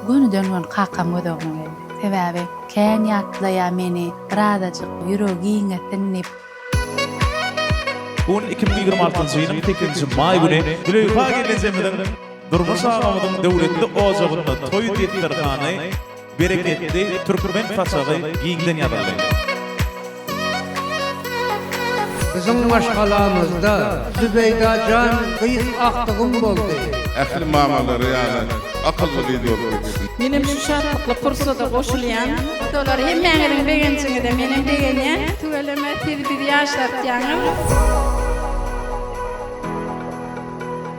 Gönüden-göni kakam göz öňüme geldi. Sebäbi kän ýatlaýar meni, birazajyk ýüregi giňesin diýip. Bu gün iki müň ýigrimi altynjy ýylyň sekizinji maý güni Züleýha gelnejemiziň, durmuş agamyzyň döwletli ojagynda toý desterhany, Bereketli türkmen paçagy giňden ýazyldy. Biziň maşgalamyzda Zübeýda jan gyz agtygym boldy. Ähli mamalary ýaly akylly gyz bolup ýetişsin. Menem şu şatlykly pursada goşulýan. Fotolar hemmäňiziň begenjiňize menem begenýän. Tüweleme siz bizi ýaşlatýaňyz.